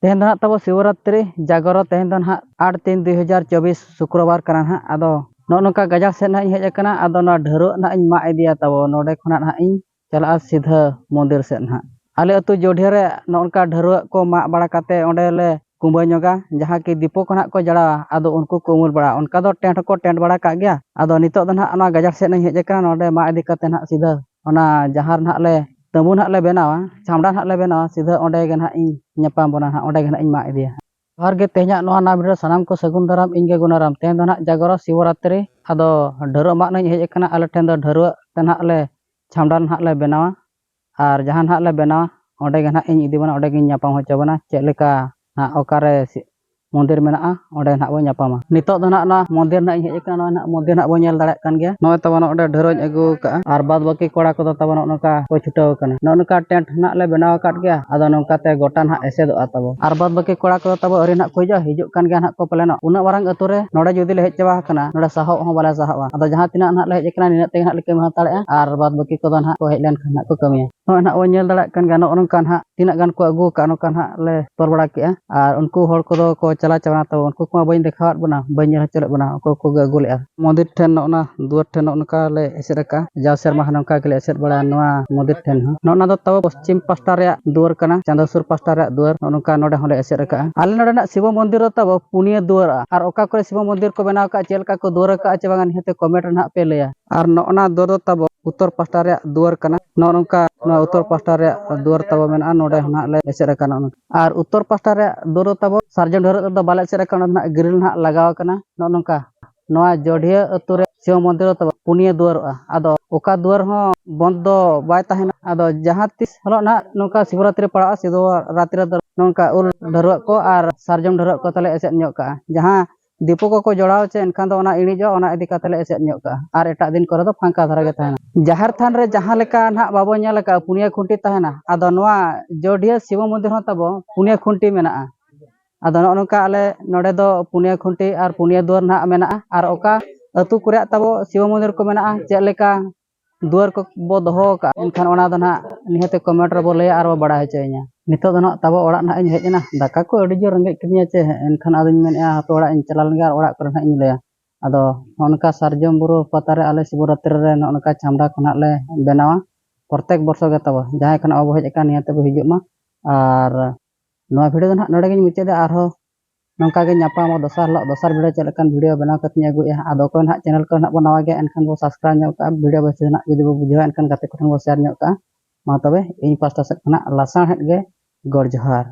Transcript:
ᱛᱮᱦᱮᱧ ᱫᱚ ᱱᱟᱦᱟᱜ ᱛᱟᱵᱚ ᱥᱤᱵᱚᱨᱟᱛᱨᱤ ᱡᱟᱜᱚᱨᱚ ᱛᱮᱦᱮᱧ ᱫᱚ ᱱᱟᱦᱟᱜ ᱟᱴ ᱛᱤᱱ ᱫᱩᱭ ᱦᱟᱡᱟᱨ ᱪᱚᱵᱵᱤᱥ ᱥᱩᱠᱨᱚᱵᱟᱨ ᱠᱟᱱᱟ ᱱᱟᱦᱟᱜ ᱟᱫᱚ ᱱᱚᱜᱼᱚ ᱱᱚᱝᱠᱟ ᱜᱟᱡᱟᱲ ᱥᱮᱫ ᱱᱟᱦᱟᱜ ᱤᱧ ᱦᱮᱡ ᱟᱠᱟᱱᱟ ᱟᱫᱚ ᱱᱚᱣᱟ ᱰᱷᱟᱹᱨᱣᱟᱹᱜ ᱱᱟᱦᱟᱜ ᱤᱧ ᱢᱟᱜ ᱤᱫᱤᱭᱟ ᱛᱟᱵᱚ ᱱᱚᱰᱮ ᱠᱷᱚᱱᱟᱜ ᱱᱟᱦᱟᱜ ᱤᱧ ᱪᱟᱞᱟᱜᱼᱟ ᱥᱤᱫᱷᱟᱹ ᱢᱚᱱᱫᱤᱨ ᱥᱮᱫ ᱱᱟᱦᱟᱜ ᱟᱞᱮ ᱟᱹᱛᱩ ᱡᱚᱰᱷᱮ ᱨᱮ ᱱᱚᱜᱼᱚ ᱱᱚᱝᱠᱟ ᱰᱷᱟᱹᱨᱣᱟᱹᱜ ᱠᱚ ᱢᱟᱜ ᱵᱟᱲᱟ ᱠᱟᱛᱮ ᱚᱸᱰᱮ ᱞᱮ ᱠᱩᱢᱵᱟᱹ ᱧᱚᱜᱟ ᱡᱟᱦᱟᱸ ᱠᱤ ᱫᱤᱯᱚ ᱠᱚ ᱱᱟᱦᱟᱜ ᱠᱚ ᱡᱟᱲᱟᱣᱟ ᱟᱫᱚ ᱩᱱᱠᱩ ᱠᱚ ᱩᱢᱩᱞ ᱵᱟᱲᱟᱜᱼᱟ ᱚᱱᱠᱟ ᱫᱚ ᱴᱮᱱᱴ ᱦᱚᱸᱠᱚ ᱴᱮᱱᱴ ᱵᱟᱲᱟ ᱠᱟᱜ ᱜᱮᱭᱟ ᱟᱫᱚ ᱱᱤᱛᱚᱜ ᱫᱚ ᱱᱟᱦᱟᱜ ᱱᱚᱣᱟ ᱜᱟᱡᱟᱲ ᱥᱮᱫ ᱤᱧ ᱦᱮᱡ ᱟᱠᱟᱱᱟ ᱱᱚᱰᱮ ᱢᱟᱜ ᱤᱫᱤ ᱠᱟᱛᱮ ᱱᱟᱦᱟᱜ ᱥᱤᱫᱷᱟᱹ ᱚᱱᱟ ᱡᱟᱦᱟᱸ ᱨᱮ ᱦᱟᱸᱜ ᱞᱮ ᱛᱟᱹᱵᱩ ᱦᱟᱸᱜ ᱞᱮ ᱵᱮᱱᱟᱣᱟ ᱪᱷᱟᱢᱰᱟ ᱦᱟᱸᱜ ᱞᱮ ᱵᱮᱱᱟᱣᱟ ᱥᱤᱫᱷᱟᱹ ᱚᱸᱰᱮ ᱜᱮ ᱦᱟᱸᱜ ᱤᱧ ᱧᱟᱯᱟᱢ ᱵᱚᱱᱟ ᱦᱟᱸᱜ ᱚᱸᱰᱮ ᱜᱮ ᱦᱟᱸᱜ ᱤᱧ ᱢᱟᱜ ᱤᱫᱤᱭᱟ ᱦᱟᱸᱜ ᱡᱚᱦᱟᱨ ᱜᱮ ᱛᱮᱦᱮᱧᱟᱜ ᱱᱚᱣᱟ ᱱᱟᱣᱟ ᱵᱷᱤᱰᱤᱭᱳ ᱥᱟᱱᱟᱢ ᱠᱚ ᱥᱟᱹᱜᱩᱱ ᱫᱟᱨᱟᱢ ᱤᱧ ᱜᱮ ᱜᱩᱱᱟᱨᱟᱢ ᱛᱮᱦᱮᱧ ᱫᱚ ᱦᱟᱸᱜ ᱡᱟᱜᱚᱨᱚ ᱥᱤᱵᱚᱨᱟᱛᱨᱤ ᱟᱫᱚ ᱰᱷᱟᱹᱨᱣᱟᱹᱜ ᱢᱟᱜ ᱱᱟᱹᱧ ᱦᱮᱡ ᱟᱠᱟᱱᱟ ᱟᱞᱮ ᱴᱷᱮᱱ ᱫᱚ ᱰᱷᱟᱹᱨᱣᱟᱹᱜ ᱛᱮ ᱦᱟᱸᱜ ᱞᱮ ᱪᱷᱟᱢᱰᱟ ᱦᱟᱸᱜ ᱞᱮ ᱵᱮᱱᱟᱣᱟ ᱟᱨ ᱡᱟᱦᱟᱸ ᱦᱟᱸᱜ ᱞᱮ ᱵᱮᱱᱟᱣᱟ ᱚᱸᱰᱮ ᱜᱮ ᱦᱟᱸᱜ ᱤᱧ ᱤᱫᱤ ᱵᱚᱱᱟ ᱚᱸᱰᱮ ᱜᱮᱧ ᱧᱟᱯᱟᱢ ᱦᱚᱪᱚ ᱵᱚᱱᱟ ᱪᱮᱫ ᱞᱮᱠᱟ ᱦᱟᱸᱜ ᱚᱠᱟᱨᱮ ᱢᱚᱱᱫᱤᱨ ᱢᱮᱱᱟᱜᱼᱟ ᱚᱸᱰᱮ ᱱᱟᱦᱟᱜ ᱵᱚᱱ ᱧᱟᱯᱟᱢᱟ ᱱᱤᱛᱚᱜ ᱫᱚ ᱱᱟᱦᱟᱜ ᱱᱚᱣᱟ ᱢᱚᱱᱫᱤᱨ ᱱᱟᱦᱟᱜ ᱤᱧ ᱦᱮᱡ ᱟᱠᱟᱱᱟ ᱱᱚᱜᱼᱚᱭ ᱱᱟᱦᱟᱜ ᱢᱚᱱᱫᱤᱨ ᱱᱟᱦᱟᱜ ᱵᱚᱱ ᱧᱮᱞ ᱫᱟᱲᱮᱭᱟᱜ ᱠᱟᱱ ᱜᱮᱭᱟ ᱱᱚᱜᱼᱚᱭ ᱛᱟᱵᱚ ᱱᱚᱸᱰᱮ ᱰᱷᱟᱹᱨᱟᱹᱧ ᱟᱹᱜᱩ ᱟᱠᱟᱫᱼᱟ ᱟᱨ ᱵᱟᱫᱽ ᱵᱟᱹᱠᱤ ᱠᱚᱲᱟ ᱠᱚᱫᱚ ᱛᱟᱵᱚ ᱱᱚᱜᱼᱚ ᱱᱚᱝᱠᱟ ᱠᱚ ᱪᱷᱩᱴᱟᱹᱣ ᱟᱠᱟᱱᱟ ᱱᱚᱜᱼᱚ ᱱᱚᱝᱠᱟ ᱴᱮᱱᱴ ᱱᱟᱦᱟᱜ ᱞᱮ ᱵᱮᱱᱟᱣ ᱟᱠᱟᱫ ᱜᱮᱭᱟ ᱟᱫᱚ ᱱᱚᱝᱠᱟ ᱛᱮ ᱜᱚᱴᱟ ᱱᱟᱦᱟᱜ ᱮᱥᱮᱫᱚᱜᱼᱟ ᱛᱟᱵᱚ ᱟᱨ ᱵᱟᱫᱽ ᱵᱟᱹᱠᱤ ᱠᱚᱲᱟ ᱠᱚᱫᱚ ᱛᱟᱵᱚ ᱟᱹᱣᱨᱤ ᱱᱟᱦᱟᱜ ᱠᱚ ᱦᱤᱡᱩᱜᱼᱟ ᱦᱤᱡᱩᱜ ᱠᱟᱱ ᱜᱮᱭᱟ ᱱᱟᱦᱟᱜ ᱠᱚ ᱯᱟᱞᱮᱱᱚᱜ ᱩᱱᱟᱹᱜ ᱢᱟᱨᱟᱝ ᱟᱹᱛᱩ ᱨᱮ ᱱᱚᱸᱰᱮ ᱡᱩᱫᱤ ᱞᱮ ᱦᱮᱡ ᱪᱟᱵᱟ ᱟᱠᱟᱱᱟ ᱱᱚᱸᱰᱮ ᱥᱟᱦᱚᱵ ᱦᱚᱸ ᱵᱟᱞᱮ ᱥᱟᱦᱚᱵᱼᱟ ᱟᱫᱚ ᱡᱟᱦᱟᱸ ᱛᱤᱱᱟᱹᱜ ᱱᱟᱦᱟᱜ ᱞᱮ ᱦᱮᱡ ᱟᱠᱟᱱᱟ ᱱᱤᱱᱟᱹᱜ ᱛᱮᱜᱮ ᱱᱟᱦᱟᱜ ᱞᱮ ᱠᱟᱹᱢᱤ ᱦᱟᱛᱟᱲᱮᱫᱼᱟ ᱟᱨ ᱵᱟᱫᱽ ᱵᱟᱹᱠᱤ ᱠᱚᱫᱚ ᱱᱟᱦᱟᱜ ᱠᱚ ᱦᱮᱡ ᱞᱮᱱᱠᱷᱟᱱ ᱱᱟᱦᱟᱜ ᱠᱚ ᱠᱟᱹᱢᱤᱭᱟ ᱱᱚᱜᱼᱚᱭ ᱱᱟᱦᱟᱜ ᱵᱚᱱ ᱧᱮᱞ ᱫᱟᱲᱮᱭᱟᱜ ᱠᱟᱱ ᱜᱮᱭᱟ ᱱᱚᱜᱼᱚ ᱱᱚᱝᱠᱟ ᱱᱟᱦᱟᱜ ᱛᱤᱱᱟᱹᱜ ᱜᱟᱱ ᱠᱚ ᱟᱹᱜᱩ ᱟᱠᱟᱫᱼᱟ ᱱᱚᱝᱠᱟ ᱱᱟᱦᱟᱜ ᱞᱮ ᱛᱚᱞ ᱵᱟᱲᱟ ᱠᱮᱫᱼᱟ ᱟᱨ ᱩᱱᱠᱩ ᱦᱚᱲ ᱠᱚᱫᱚ ᱠᱚ ᱪᱟᱞᱟᱣ ᱪᱟᱵᱟᱭᱮᱱᱟ ᱛᱚ ᱩᱱᱠᱩ ᱠᱚᱢᱟ ᱵᱟᱹᱧ ᱫᱮᱠᱷᱟᱣᱟᱫ ᱵᱚᱱᱟ ᱵᱟᱹᱧ ᱧᱮᱞ ᱦᱚᱪᱚ ᱞᱮᱫ ᱵᱚᱱᱟ ᱚᱠᱚᱭ ᱠᱚᱜᱮ ᱟᱹᱜᱩ ᱞᱮᱫᱼᱟ ᱢᱚᱱᱫᱤᱨ ᱴᱷᱮᱱ ᱱᱚᱜᱼᱚ ᱱᱟ ᱫᱩᱣᱟᱹᱨ ᱴᱷᱮᱱ ᱱᱚᱜᱼᱚ ᱱᱚᱝᱠᱟ ᱞᱮ ᱮᱥᱮᱫ ᱟᱠᱟᱫᱼᱟ ᱡᱟᱣ ᱥᱮᱨᱢᱟ ᱦᱚᱸ ᱱᱚᱝᱠᱟ ᱜᱮᱞᱮ ᱮᱥᱮᱫ ᱵᱟᱲᱟᱭᱟ ᱱᱚᱣᱟ ᱢᱚᱱᱫᱤᱨ ᱴᱷᱮᱱ ᱦᱚᱸ ᱱᱚᱜᱼᱚ ᱱᱟ ᱫᱚ ᱛᱟᱵᱚ ᱯᱚᱥᱪᱤᱢ ᱯᱟᱥᱴᱟ ᱨᱮᱭᱟᱜ ᱫᱩᱣᱟᱹᱨ ᱠᱟᱱᱟ ᱪᱟᱸᱫᱚ ᱥᱩᱨ ᱯᱟᱥᱴᱟ ᱨᱮᱭᱟᱜ ᱫᱩᱣᱟᱹᱨ ᱱᱚᱜᱼᱚ ᱱᱚᱝᱠᱟ ᱱᱚᱰᱮ ᱦᱚᱸᱞᱮ ᱮᱥᱮᱫ ᱟᱠᱟᱫᱼᱟ ᱟᱞᱮ ᱱᱚᱰᱮᱱᱟᱜ ᱥᱤᱵᱚ ᱢᱚᱱᱫᱤᱨ ᱫᱚ ᱛᱟᱵᱚ ᱯᱩᱱᱭᱟᱹ ᱫᱩᱣᱟᱹᱨᱟᱜᱼᱟ ᱟᱨ ᱚᱠᱟ ᱠᱚᱨᱮ ᱥᱤᱵᱚ ᱢᱚᱱᱫᱤᱨ ᱠᱚ ᱵᱮᱱᱟᱣ ᱟᱠᱟᱫᱼᱟ ᱪᱮᱫ ᱞᱮᱠᱟ ᱠᱚ ᱫᱩᱣᱟᱹᱨ ᱟᱠᱟᱫᱼᱟ ᱪᱮ ᱵᱟᱝᱟ ᱱᱤᱦᱟᱹᱛ ᱠᱚᱢᱮᱱᱴ ᱨᱮ ᱱᱟᱦᱟᱜ ᱯᱮ ᱞᱟᱹᱭᱟ ᱟᱨ ᱱᱚᱜᱼᱚ ᱱᱟ ᱫᱩᱣᱟᱹᱨ ᱫᱚ ᱛᱟᱵᱚ ᱩᱛᱚᱨ ᱯᱟᱦᱴᱟ ᱨᱮᱭᱟᱜ ᱫᱩᱣᱟᱹᱨ ᱠᱟᱱᱟ ᱱᱚᱜᱼᱚ ᱱᱚᱝᱠᱟ ᱱᱚᱣᱟ ᱩᱛᱚᱨ ᱯᱟᱦᱴᱟ ᱨᱮᱭᱟᱜ ᱫᱩᱣᱟᱹᱨ ᱛᱟᱵᱚ ᱢᱮᱱᱟᱜᱼᱟ ᱱᱚᱰᱮ ᱦᱚᱸ ᱱᱟᱦᱟᱜ ᱞᱮ ᱮᱥᱮᱫ ᱟᱠᱟᱱᱟ ᱟᱨ ᱩᱛᱚᱨ ᱯᱟᱦᱴᱟ ᱨᱮᱭᱟᱜ ᱫᱩᱣᱟᱹᱨ ᱫᱚ ᱛᱟᱵᱚ ᱥᱟᱨᱡᱚᱢ ᱰᱷᱟᱹᱨᱟᱹᱜ ᱨᱮᱫᱚ ᱵᱟᱞᱮ ᱮᱥᱮᱫ ᱟᱠᱟᱱᱟ ᱚᱱᱟ ᱫᱚ ᱱᱟᱦᱟᱜ ᱜᱨᱤᱞ ᱱᱟᱦᱟᱜ ᱞᱟᱜᱟᱣ ᱟᱠᱟᱱᱟ ᱱᱚᱜᱼᱚ ᱱᱚᱝᱠᱟ ᱱᱚᱣᱟ ᱡᱚᱰᱷᱤᱭᱟᱹ ᱟᱹᱛᱩ ᱨᱮ ᱥᱤᱵᱚ ᱢᱚᱱᱫᱤᱨ ᱫᱚ ᱛᱟᱵᱚ ᱯᱩᱱᱭᱟᱹ ᱫᱩᱣᱟᱹᱨᱚᱜᱼᱟ ᱟᱫᱚ ᱚᱠᱟ ᱫᱩᱣᱟᱹᱨ ᱦᱚᱸ ᱵᱚᱸᱫᱽ ᱫᱚ ᱵᱟᱭ ᱛᱟᱦᱮᱱᱟ ᱟᱫᱚ ᱡᱟᱦᱟᱸ ᱛᱤᱥ ᱦᱤᱞᱳᱜ ᱱᱟᱦᱟᱜ ᱱᱚᱝᱠᱟ ᱥᱤᱵᱚᱨᱟᱛᱨᱤ ᱯᱟᱲᱟᱜᱼᱟ ᱥᱤᱵᱚᱨᱟᱛᱨᱤ ᱨᱮᱫᱚ ᱱᱚᱝᱠᱟ ᱩᱞ ᱰᱷᱟᱹᱨᱣᱟᱹᱜ ᱠᱚ ᱟᱨ ᱥᱟᱨᱡᱚᱢ ᱰᱷᱟᱹᱨᱣᱟᱹᱜ ᱠᱚ ᱛᱟᱞᱮ ᱮᱥᱮᱫ ᱧᱚᱜ ᱠᱟᱜᱼᱟ ᱡᱟᱦᱟᱸ ᱫᱤᱯᱩ ᱠᱚᱠᱚ ᱡᱚᱲᱟᱣ ᱪᱮ ᱮᱱᱠᱷᱟᱱ ᱫᱚ ᱚᱱᱟ ᱤᱬᱤᱡᱚᱜᱼᱟ ᱚᱱᱟ ᱤᱫᱤ ᱠᱟᱛᱮ ᱞᱮ ᱮᱥᱮᱫ ᱧᱚᱜ ᱠᱟᱜᱼᱟ ᱟᱨ ᱮᱴᱟᱜ ᱫᱤᱱ ᱠᱚᱨᱮ ᱫᱚ ᱯᱷᱟᱸᱠᱟ ᱫᱷᱟᱨᱟ ᱜᱮ ᱛᱟᱦᱮᱱᱟ ᱡᱟᱦᱮᱨ ᱛᱷᱟᱱ ᱨᱮ ᱡᱟᱦᱟᱸ ᱞᱮᱠᱟ ᱱᱟᱦᱟᱜ ᱵᱟᱵᱚ ᱧᱮᱞ ᱟᱠᱟᱫᱼᱟ ᱯᱩᱱᱭᱟᱹ ᱠᱷᱩᱱᱴᱤ ᱛᱟᱦᱮᱱᱟ ᱟᱫᱚ ᱱᱚᱣᱟ ᱡᱚᱰᱤᱭᱟᱹ ᱥᱤᱵᱚ ᱢᱚᱱᱫᱤᱨ ᱦᱚᱸ ᱛᱟᱵᱚ ᱯᱩᱱᱭᱟᱹ ᱠᱷᱩᱱᱴᱤ ᱢᱮᱱᱟᱜᱼᱟ ᱟᱫᱚ ᱱᱚᱜᱼᱚ ᱱᱚᱝᱠᱟ ᱟᱞᱮ ᱱᱚᱰᱮ ᱫᱚ ᱯᱩᱱᱭᱟᱹ ᱠᱷᱩᱱᱴᱤ ᱟᱨ ᱯᱩᱱᱭᱟᱹ ᱫᱩᱣᱟᱹᱨ ᱱᱟᱦᱟᱜ ᱢᱮᱱᱟᱜᱼᱟ ᱟᱨ ᱚᱠᱟ ᱟᱹᱛᱩ ᱠᱚᱨᱮ ᱛᱟᱵᱚ ᱥᱤᱵᱚ ᱢᱚᱱᱫᱤᱨ ᱠᱚ ᱢᱮᱱᱟᱜᱼᱟ ᱪᱮᱫ ᱞᱮᱠᱟ ᱫᱩᱣᱟᱹᱨ ᱠᱚᱵᱚ ᱫᱚᱦᱚ ᱟᱠᱟᱫᱼᱟ ᱮᱱᱠᱷᱟᱱ ᱚᱱᱟ ᱫᱚ ᱱᱟᱦᱟᱜ ᱱᱤᱦᱟᱹᱛ ᱠᱚᱢᱮᱱᱴ ᱨᱮᱵᱚ ᱞᱟᱹᱭᱟ ᱟᱨ ᱵᱚ ᱵᱟᱲᱟᱭ ᱦᱚᱪᱚᱭᱤᱧᱟ ᱱᱤᱛᱚᱜ ᱫᱚ ᱱᱟᱦᱟᱜ ᱛᱟᱵᱚ ᱚᱲᱟᱜ ᱱᱟᱦᱟᱜ ᱤᱧ ᱦᱮᱡ ᱮᱱᱟ ᱫᱟᱠᱟ ᱠᱚ ᱟᱹᱰᱤ ᱡᱳᱨ ᱨᱮᱸᱜᱮᱡ ᱠᱤᱫᱤᱧᱟ ᱪᱮ ᱮᱱᱠᱷᱟᱱ ᱟᱫᱚᱧ ᱢᱮᱱᱮᱫᱼᱟ ᱦᱟᱯᱮ ᱚᱲᱟᱜ ᱤᱧ ᱪᱟᱞᱟᱣ ᱞᱮᱱᱜᱮ ᱟᱨ ᱚᱲᱟᱜ ᱠᱚᱨᱮ ᱱᱟᱦᱟᱜ ᱤᱧ ᱞᱟᱹᱭᱟ ᱟᱫᱚ ᱱᱚᱜᱼᱚ ᱱᱚᱝᱠᱟ ᱥᱟᱨᱡᱚᱢ ᱵᱩᱨᱩ ᱯᱟᱛᱟ ᱨᱮ ᱟᱞᱮ ᱥᱤᱵᱚᱨᱟᱛᱨᱤ ᱨᱮ ᱱᱚᱜᱼᱚ ᱱᱚᱝᱠᱟ ᱪᱷᱟᱢᱰᱟ ᱠᱚ ᱱᱟᱦᱟᱜ ᱞᱮ ᱵᱮᱱᱟᱣᱟ ᱯᱨᱚᱛᱮᱠ ᱵᱚᱨᱥᱚ ᱜᱮ ᱛᱟᱵᱚ ᱡᱟᱦᱟᱸᱭ ᱠᱚ ᱱᱟᱦᱟᱜ ᱵᱟᱵᱚ ᱦᱮᱡ ᱟᱠᱟᱱ ᱱᱤᱦᱟᱹᱛ ᱵᱚ ᱦᱤᱡᱩᱜ ᱢᱟ ᱟᱨ ᱱᱚᱣᱟ ᱵᱷᱤᱰᱤᱭᱳ ᱫᱚ ᱱᱟᱦᱟᱜ ᱱᱚᱰᱮ ᱜᱤᱧ ᱢᱩᱪᱟᱹᱫᱟ ᱟᱨᱦᱚᱸ ᱱᱚᱝᱠᱟ ᱜᱮ ᱧᱟᱯᱟᱢᱚᱜ ᱫᱚᱥᱟᱨ ᱦᱤᱞᱳᱜ ᱫᱚᱥᱟᱨ ᱵᱷᱤᱰᱤᱭᱳ ᱪᱮᱫ ᱞᱮᱠᱟᱱ ᱵᱷᱤᱰᱤᱭᱳ ᱵᱮᱱᱟᱣ ᱠᱟᱛᱮ ᱤᱧ ᱟᱹᱜᱩᱭᱮᱫᱼᱟ ᱟᱫᱚ ᱚᱠᱚᱭ ᱱᱟᱦᱟᱜ ᱪᱮᱱᱮᱞ ᱠᱚᱨᱮ ᱱᱟᱦᱟᱜ ᱵᱚᱱ ᱱᱟᱣᱟ ᱜᱮᱭᱟ ᱮᱱᱠᱷᱟᱱ ᱵᱚᱱ ᱥᱟᱵᱥᱠᱨᱟᱭᱤᱵᱽ ᱧᱚᱜ ᱠᱟᱜᱼᱟ ᱵᱷᱤᱰᱤᱭᱳ ᱵᱮᱥ ᱨᱮᱱᱟᱜ ᱡᱩᱫᱤ ᱵᱚᱱ ᱵᱩᱡᱷᱟᱹᱣᱟ ᱮᱱᱠᱷᱟᱱ ᱜᱟᱛᱮ ᱠᱚᱴᱷᱮᱱ ᱵᱚᱱ ᱥᱮᱭᱟᱨ ᱧᱚᱜ ᱠᱟᱜᱼᱟ ᱢᱟ ᱛᱚᱵᱮ ᱤᱧ ᱯᱟᱥᱴᱟ ᱥᱮᱫ ᱠᱷᱚᱱᱟᱜ ᱞᱟᱥᱟᱬᱦᱮᱫ ᱜᱮ ᱜᱚᱰ ᱡᱚᱦᱟᱨ